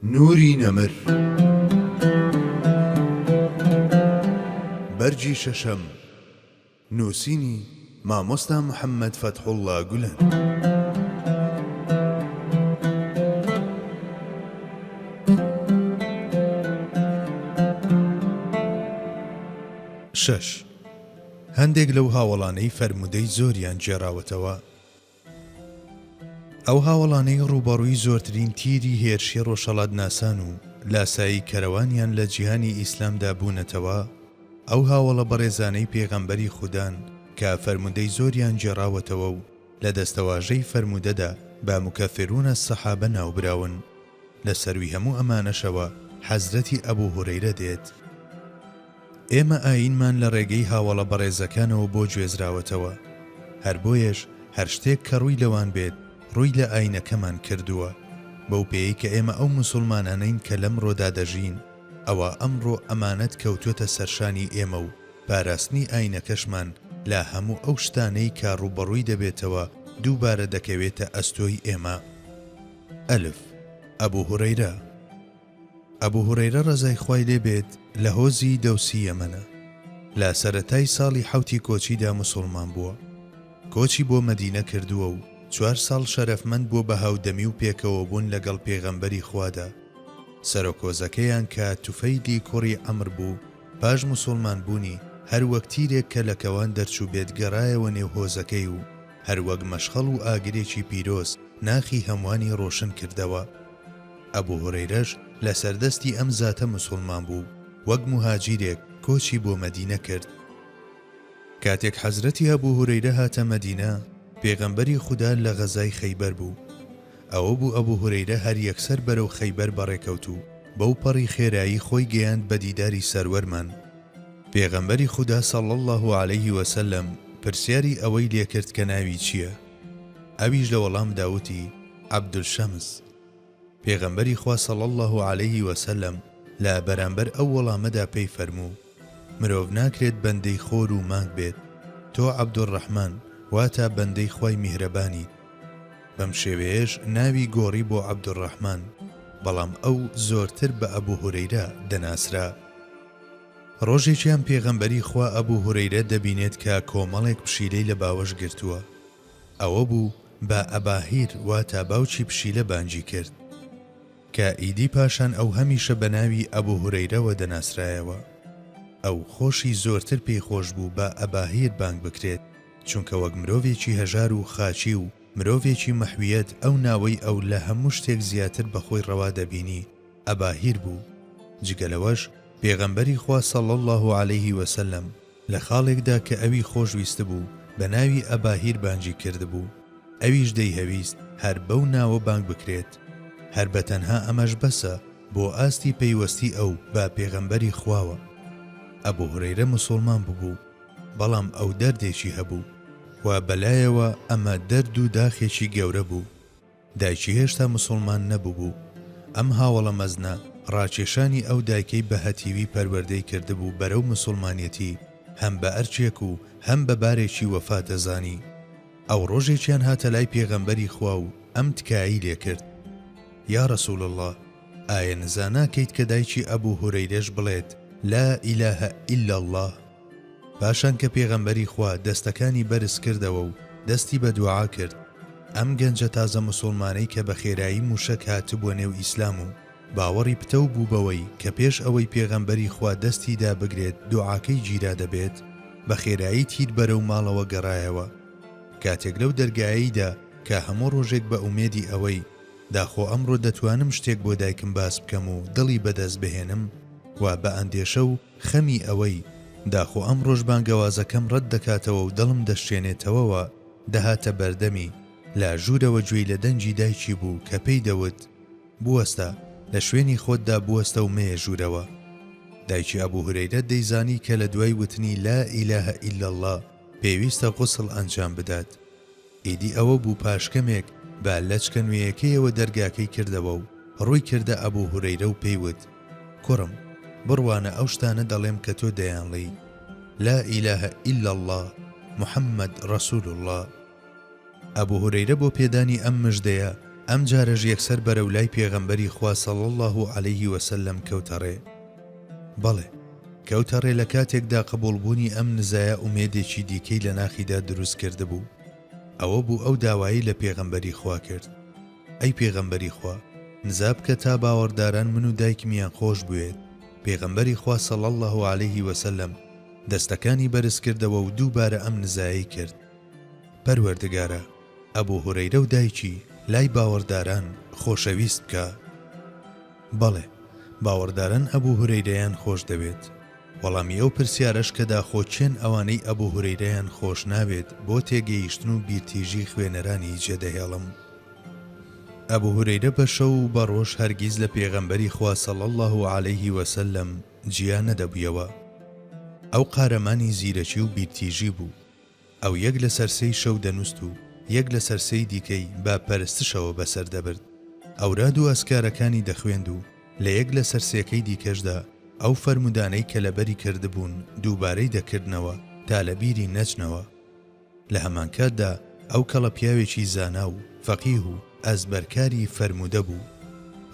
نوری نەمر بەرگی شەشەم نووسینی، مامۆستا محەمەد فەتحوڵا گولەن. شەش، هەندێک لەو هاوەڵانەی فەرموودەی زۆریان گێڕاوەتەوە، ئەو هاوەڵانەی ڕووبەڕووی زۆرترین تیری هێرشی ڕۆژهەڵاتناسان و لاسایی کەرەوانیان لە جیهانی ئیسلامدا بوونەتەوە، ئەو هاوەڵە بەڕێزانەی پێغەمبەری خودان کە فەرموودەی زۆریان گێڕاوەتەوە و لە دەستەواژەی فەرموودەدا بە مکفرون الصحابە ناوبراون. لە سەروی هەموو ئەمانەشەوە حەزرەتی ئەبو هورەیرە دێت، ئێمە ئایینمان لە ڕێگەی هاوەڵە بەڕێزەکانەوە بۆ گوێزراوەتەوە، هەر بۆیەش هەر شتێک کە ڕووی لەوان بێت ڕووی لە ئایینەکەمان کردووە، بەو پێیەی کە ئێمە ئەو موسوڵمانانەین کە لەمڕۆدا دەژین، ئەوا ئەمڕۆ ئەمانەت کەوتووەتە سەرشانی ئێمە و پاراستنی ئایینەکەشمان لە هەموو ئەو شتانەی کە ڕووبەڕووی دەبێتەوە دووبارە دەکەوێتە ئەستۆی ئێمە. ئەلف، ئەبو هورەیرە، ئەبو هورەیرە ڕەزای خوای لێ بێت لە هۆزی دەوسی یەمەنە لە سەرەتای ساڵی حەوتی کۆچیدا موسوڵمان بووە کۆچی بۆ مەدینە کردووە و چوار ساڵ شەرەفمەند بووە بە هاودەمی و پێکەوەبوون لەگەڵ پێغەمبەری خوادا سەرۆک هۆزەکەیان کە توفەیلی کوڕی عەمر بوو پاش موسوڵمان بوونی هەر وەک تیرێک کە لە کەوان دەرچووبێت گەڕایەوە نێو هۆزەکەی و هەر وەک مەشخەڵ و ئاگرێکی پیرۆز ناخی هەموانی ڕۆشن کردەوە. ئەبو هورەیرەش لە سەر دەستی ئەم زاتە موسوڵمان بوو وەک موهاجیرێک کۆچی بۆ مەدینە کرد. کاتێک حەزرەتی ئەبو هورەیرە هاتە مەدینە پێغەمبەری خودا لە غەزای خەیبەر بوو. ئەوە بوو ئەبو هورەیرە هەر یەکسەر بەرەو خەیبەر بەڕێکەوت و بەو پەڕی خێرایی خۆی گەیاند بە دیداری سەروەرمان، پێغەمبەری خودا صلی اللە علیه وسلم پرسیاری ئەوەی لێکرد کە ناوی چییە؟ ئەویش لە وەڵامدا وتی، عەبدولشەمس. پێغەمبەری خوا صلی اللە علیه وسلم لە بەرامبەر ئەو وەڵامەدا پێی فەرموو، مرۆڤ ناکرێت بەندەی خۆر و مانگ بێت، تۆ عەبدولڕەحمان واتا بەندەی خوای میهرەبانیت. بەم شێوەیەش ناوی گۆڕی بۆ عەبدولڕەحمان، بەڵام ئەو زۆرتر بە ئەبو هورەیرە دەناسرا. ڕۆژێکیان پێغەمبەری خوا ئەبو هورەیرە دەبینێت کە کۆمەڵێک پشیلەی لە باوەش گرتووە، ئەوە بوو بە ئەباهیر واتا باوکی پشیلە بانگی کرد، کە ئیدی پاشان ئەو هەمیشە بە ناوی ئەبو هورەیرەوە دەناسرایەوە. ئەو خۆشی زۆرتر پێی خۆش بوو بە ئەباهیر بانگ بکرێت، چونکە وەک مرۆڤێکی هەژار و خاکی و مرۆڤێکی مەحویەت ئەو ناوەی ئەو لە هەموو شتێک زیاتر بە خۆی ڕەوا دەبینی، ئەباهیر بوو، جگە لەوەش پێغەمبەری خوا صلی اللە علیه وسلم لە خاڵێکدا کە ئەوی خۆشویستبوو بە ناوی ئەباهیر بانگی کردبوو، ئەویش دەیهەویست هەر بەو ناوە بانگ بکرێت، هەر بە تەنها ئەمەش بەسە بۆ ئاستی پەیوەستی ئەو بە پێغەمبەری خواوە. ئەبو هورەیرە موسوڵمان ببوو، بەڵام ئەو دەردێکی هەبوو، و بەلایەوە ئەمە دەرد و داخێکی گەورە بوو، دایکی هێشتا موسوڵمان نەبووبوو، ئەم هاوەڵە مەزنە، ڕاکێشانی ئەو دایکەی بە هەتیوی پەروەردەی کردبوو بەرەو موسوڵمانیەتی، هەم بە ئەرکێک و هەم بە بارێکی وەفا دەزانی. ئەو ڕۆژێکیان هاتە لای پێغەمبەری خوا و ئەم تکایەی لێ کرد، یا رسول اللە، ئایە نزا ناکەیت کە دایکی ئەبو هورەیرەش بڵێت، لا اله الا اللە؟ پاشان کە پێغەمبەری خوا دەستەکانی بەرز کردەوە و دەستی بە دوعا کرد، ئەم گەنجە تازە موسوڵمانەی کە بە خێرایی مووشەک هاتبووە نێو ئیسلام و باوەڕی پتەو بوو بەوەی کە پێش ئەوەی پێغەمبەری خوا دەستی دابگرێت دوعاکەی گیرا دەبێت، بە خێرایی تیر بەرەو ماڵەوە گەڕایەوە. کاتێک لەو دەرگایەی دا کە هەموو ڕۆژێک بە ئومێدی ئەوەی داخۆ ئەمڕۆ دەتوانم شتێک بۆ دایکم باس بکەم و دڵی بە دەست بهێنم و بە ئەندێشە و خەمی ئەوەی داخۆ ئەمڕۆش بانگەوازەکەم ڕەت دەکاتەوە و دڵم دەشکێنێتەوەوە، دەهاتە بەردەمی، لە ژوورەوە گوێی لە دەنگی دایکی بوو کە پێی دەوت، بوەستە، لە شوێنی خۆتدا بوەستە و مەیە ژوورەوە. دایکی ئەبوو هورەیرە دەیزانی کە لە دوای وتنی لا ئیلاهە ئیلا اللە پێویستە غوسڵ ئەنجام بدات. ئیدی ئەوە بوو پاش کەمێک بە لەچکە نوێیەکەیەوە دەرگاکەی کردەوە و ڕووی کردە ئەبوو هورەیرە و پێی وت، کوڕم! بڕوانە ئەو شتانە دەڵێم کە تۆ دەیانڵێی، لا ئیلە ئیلا اللە محمد رسول اللە. ئەبوو هورەیرە بۆ پێدانی ئەم مژدەیە، ئەمجارەش یەکسەر بەرەو لای پێغەمبەری خوا صلی اللە علیه و سلم کەوتە ڕێ. بەڵێ، کەوتە ڕێ لە کاتێکدا قبووڵبوونی ئەم نزایە ئومێدێکی دیکەی لە ناخیدا دروست کردبوو. ئەوە بوو ئەو داوایەی لە پێغەمبەری خوا کرد، ئەی پێغەمبەری خوا، نزا بکە تا باوەڕداران من و دایکمیان خۆش بوێت، پێغەمبەری خوا صلی اللە علیه و سلم دەستەکانی بەرز کردەوە و دووبارە ئەم نزایەی کرد، پەروەردگارا، ئەبو هورەیرە و دایکی لای باوەڕداران خۆشەویست بکە. بەڵێ، باوەڕداران ئەبو هورەیرەیان خۆش دەوێت. وەڵامی ئەو پرسیارەش کە داخۆ کێن ئەوانەی ئەبو هورەیرەیان خۆش ناوێت بۆ تێگەیشتن و بیرتیژی خوێنەرانی جێدەهێڵم. ئەبو هورەیرە بە شەو و بە ڕۆژ هەرگیز لە پێغەمبەری خوا صلی اللە علیه و سلم جیا نەدەبویەوە. ئەو قارەمانی زیرەکی و بیرتیژی بوو. ئەو یەک لەسەر سێی شەو دەنووست و یەک لەسەر سێی دیکەی بە پەرستشەوە بەسەر دەبرد. ئەوراد و ئەزکارەکانی دەخوێند و لە یەک لەسەر سێکەی دیکەشدا ئەو فەرموودانەی کە لەبەری کردبوون دووبارەی دەکردنەوە تا لە بیری نەچنەوە. لە هەمانکاتدا ئەو کەڵە پیاوێکی زانا و فەقیه و ئەزبەرکاری فەرموودە بوو.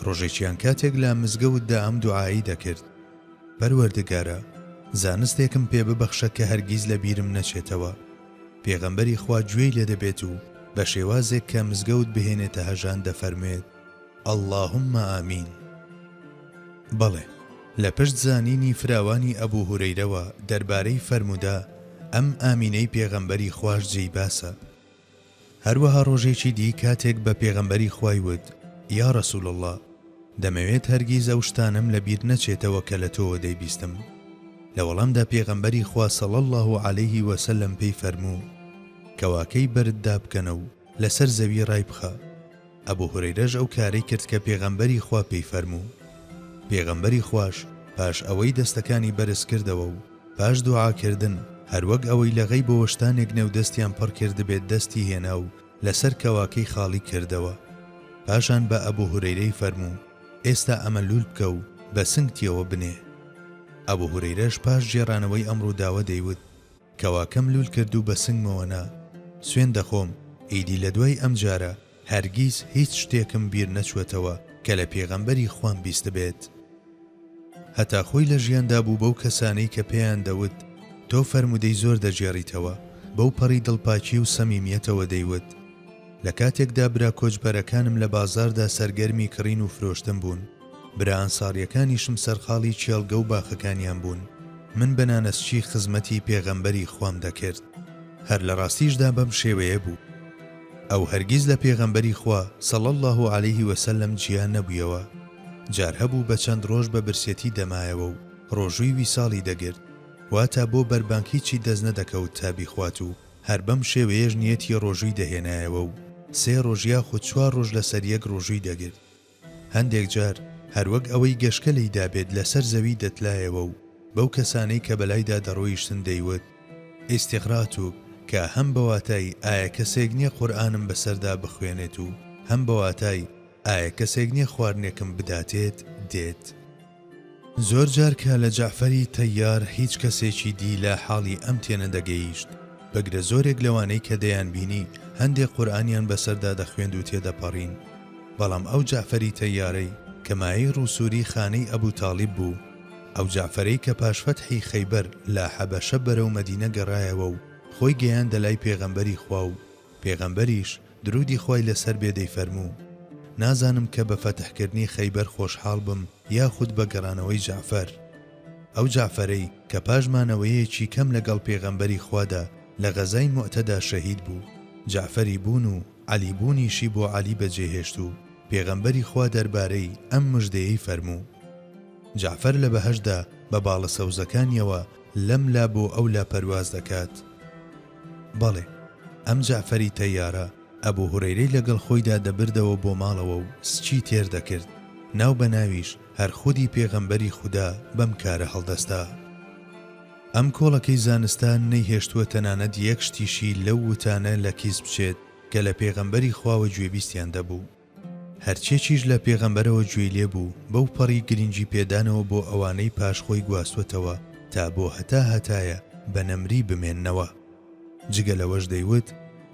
ڕۆژێکیان کاتێک لە مزگەوتدا ئەم دوعایەی دەکرد. پەروەردگارا زانستێکم پێ ببەخشە کە هەرگیز لە بیرم نەچێتەوە پێغەمبەری خوا گوێی لێ دەبێت و بە شێوازێک کە مزگەوت بهێنێتە هەژان دەفەرموێت اللهم آمین بەڵێ لە پشت زانینی فراوانی ئەبوو هورەیرەوە دەربارەی فەرموودە ئەم ئامینەی پێغەمبەری خواش جێی باسە هەروەها ڕۆژێکی دی کاتێک بە پێغەمبەری خوای وت، یا رسول اللە، دەمەوێت هەرگیز ئەو شتانەم لە بیر نەچێتەوە کە لە تۆوە دەیبیستم. لە وەڵامدا پێغەمبەری خوا صلی اللە علیە وسلم پێی فەرموو، کەواکەی بەرد دابکەنە و لەسەر زەوی ڕایبخە، ئەبو هورەیرەش ئەو کارەی کرد کە پێغەمبەری خوا پێی فەرموو، پێغەمبەری خواش پاش ئەوەی دەستەکانی بەرز کردەوە و پاش دوعا کردن هەروەک ئەوەی لە غەیبەوە شتانێک نێو دەستیان پڕ کردبێت دەستی هێنا و لەسەر کەواکەی خاڵی کردەوە پاشان بە ئەبو هورەیرەی فەرموو ئێستا ئەمە لول بکە و بە سنگتیەوە بنێ ئەبو هورەیرەش پاش گێڕانەوەی ئەم ڕووداوە دەیوت، کەواکەم لول کرد و بەسنگمەوە نا سوێن دەخۆم ئیدی لەدوای ئەم جارە هەرگیز هیچ شتێکم بیر نەچوەتەوە کە لە پێغەمبەری خوام بیستبێت هەتا خۆی لە ژیاندا بوو بەو کەسانەی کە پێیان دەوت تۆ فەرمودەی زۆر دەگێڕیتەوە بەو پەڕی دڵپاکی و سەمیمیەتەوە دەیوت لە کاتێکدا برا کۆچبەرەکانم لە بازاردا سەرگەرمی کڕین و فرۆشتن بوون. برا ئەنساریەکانیشم سەرقاڵی کێڵگە و باخەکانیان بوون من بە نانەسکی خزمەتی پێغەمبەری خوام دەکرد هەر لە ڕاستیشدا بەم شێوەیە بوو ئەو هەرگیز لە پێغەمبەری خوا صلی اللە علیه وسلم جیا نەبوویەوە جار هەبوو بە چەند ڕۆژ بە برسێتی دەمایەوە و ڕۆژووی ویساڵی دەگرت واتا بۆ بەربانگ هیچی دەست نەدەکەوت تا بیخوات و هەر بەم شێوەیەش نیەتی ڕۆژووی دەهێنایەوە و سێ ڕۆژ یاخود چوار ڕۆژ لەسەریەک ڕۆژووی دەگرت هەندێک جار هەروەک ئەوەی گەشکە لێیدا بێت لەسەر زەوی دەتلایەوە و بەو کەسانەی کە بەلایدا دەڕۆیشتن دەیوت، ئیستیغراتو، کە هەم بە واتای ئایا کەسێک نیە قورئانم بەسەردا بخوێنێت و هەم بە واتای ئایا کەسێک نیە خواردنێکم بداتێت دێت. زۆر جار کە لە جەعفەری تەیار هیچ کەسێکی دی لە حاڵی ئەم تێنەدەگەیشت، بگرە زۆرێک لەوانەی کە دەیانبینی هەندێ قورئانیان بەسەردا دەخوێند و تێدەپەڕین، بەڵام ئەو جەعفەری تەیارەی کە مایەی ڕووسووری خانەی ئەبوو تاڵیب بوو، ئەو جەعفەرەی کە پاش فەتحی خەیبەر لە حەبەشە بەرەو مەدینە گەڕایەوە و خۆی گەیاندە لای پێغەمبەری خوا و پێغەمبەریش، درودی خوای لەسەر بێ دەیفەرموو، نازانم کە بە فەتحکردنی خەیبەر خۆشحاڵ بم یاخود بە گەڕانەوەی جەعفەر. ئەو جەعفەرەی کە پاش مانەوەیەکی کەم لەگەڵ پێغەمبەری خوادا لە غەزای موئتەدا شەهید بوو، جەعفەری بوون و عەلی بوونیشی بۆ عەلی بەجێهێشت و پێغەمبەری خوا دەربارەی ئەم مژدەیەی فەرموو، جەعفەر لە بەهەشتدا بە باڵە سەوزەکانیەوە لەم لا بۆ ئەو لا پەرواز دەکات، بەڵێ، ئەم جەعفەری تەیارە ئەبو هورەیرەی لەگەڵ خۆیدا دەبردەوە بۆ ماڵەوە و سکی تێر دەکرد، ناو بە ناویش هەر خودی پێغەمبەری خودا بەم کارە هەڵدەستا. ئەم کۆڵەکەی زانستان نەیهێشتووە تەنانەت یەک شتیشی لەو وتانە لە کیس بچێت کە لە پێغەمبەری خواوە گوێبیستیان دەبوو. هەرچێکیش لە پێغەمبەرەوە گوێی لێ بوو، بەو پەڕی گرنگی پێدانەوە بۆ ئەوانەی پاش خۆی گواستووەتەوە تا بۆ هەتا هەتایە بە نەمری بمێننەوە. جگە لەوەش دەیوت،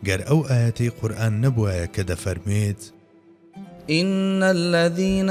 گەر ئەو ئایەتەی قورئان نەبوایە کە دەفەرموێت. ان الذین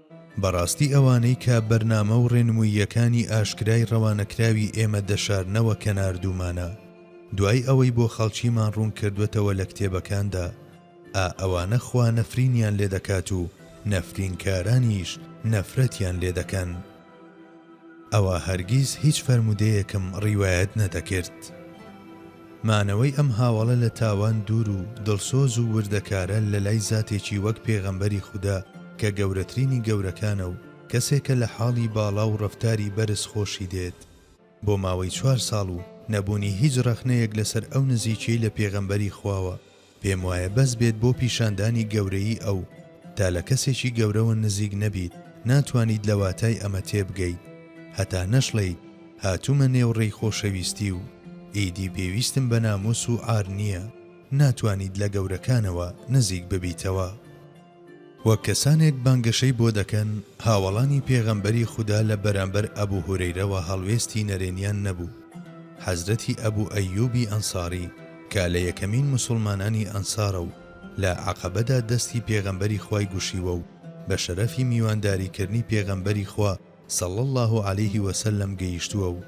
بەڕاستی ئەوانەی کە بەرنامە و ڕێنمووییەکانی ئاشکرای ڕەوانەکراوی ئێمە دەشارنەوە کە ناردوومانە دوای ئەوەی بۆ خەڵکیمان ڕوون کردووەتەوە لە کتێبەکاندا، ئا ئەوانە خوا نەفرینیان لێدەکات و نەفرینکارانیش نەفرەتیان لێدەکەن. ئەوا هەرگیز هیچ فەرموودەیەکم ڕیوایەت نەدەکرد. مانەوەی ئەم هاوەڵە لە تاوان دوور و دڵسۆز و وردەکارە لە لای زاتێکی وەک پێغەمبەری خودا کە گەورەترینی گەورەکانە و کەسێکە لە حاڵی باڵا و ڕەفتاری بەرز خۆشی دێت، بۆ ماوەی چوار ساڵ و نەبوونی هیچ ڕەخنەیەک لەسەر ئەو نزیکیەی لە پێغەمبەری خواوە پێم وایە بەس بێت بۆ پیشاندانی گەورەیی ئەو تا لە کەسێکی گەورەوە نزیک نەبیت ناتوانیت لە واتای ئەمە تێبگەیت هەتا نەشڵێیت هاتومە نێو ڕێی خۆشەویستی و ئیدی پێویستم بە ناموس و عار نیە ناتوانیت لە گەورەکانەوە نزیک ببیتەوە. وە کەسانێک بانگەشەی بۆ دەکەن هاوەڵانی پێغەمبەری خودا لە بەرامبەر ئەبو هورەیرەوە هەڵوێستی نەرێنیان نەبوو، حەزرەتی ئەبو ئەیوبی ئەنساری کە لە یەکەمین موسوڵمانانی ئەنسارە و لە عەقەبەدا دەستی پێغەمبەری خوای گوشیوە و بە شەرەفی میوانداری کردنی پێغەمبەری خوا صلی اللە علیه وسلم گەیشتووە و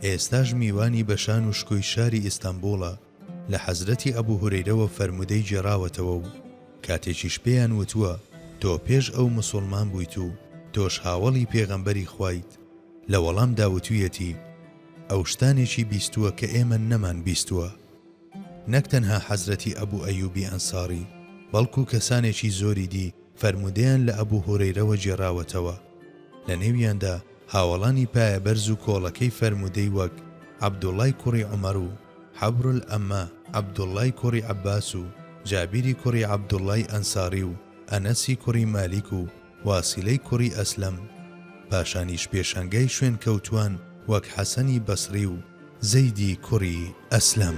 ئێستاش میوانی بەشان و شکۆی شاری ئیستەنبوڵە. لە حەزرەتی ئەبو هورەیرەوە فەرموودەی گێڕاوەتەوە و کاتێکیش پێیان وتووە، تۆ پێش ئەو موسوڵمان بوویت و تۆش هاوەڵی پێغەمبەری خوایت، لە وەڵامدا وتوویەتی، ئەو شتانێکی بیستووە کە ئێمە نەمان بیستووە. نەک تەنها حەزرەتی ئەبو ئەیوبی ئەنساری، بەڵکو کەسانێکی زۆری دی فەرموودەیان لە ئەبو هورەیرەوە گێڕاوەتەوە، لە نێویاندا هاوەڵانی پایەبەرز و کۆڵەکەی فەرموودەی وەک، عەبدوڵای کوڕی عومەر و، حەبرولئەمە، عەبدوڵڵای کوڕی عەباس و جابیری کوڕی عەبدوڵڵای ئەنساڕی و ئەنەسی کوڕی مالیک و واسیلەی کوڕی ئەسلەم. پاشانیش پێشەنگای شوێنکەوتووان وەک حەسەنی بەسڕی و زەیدی کوڕی ئەسلەم.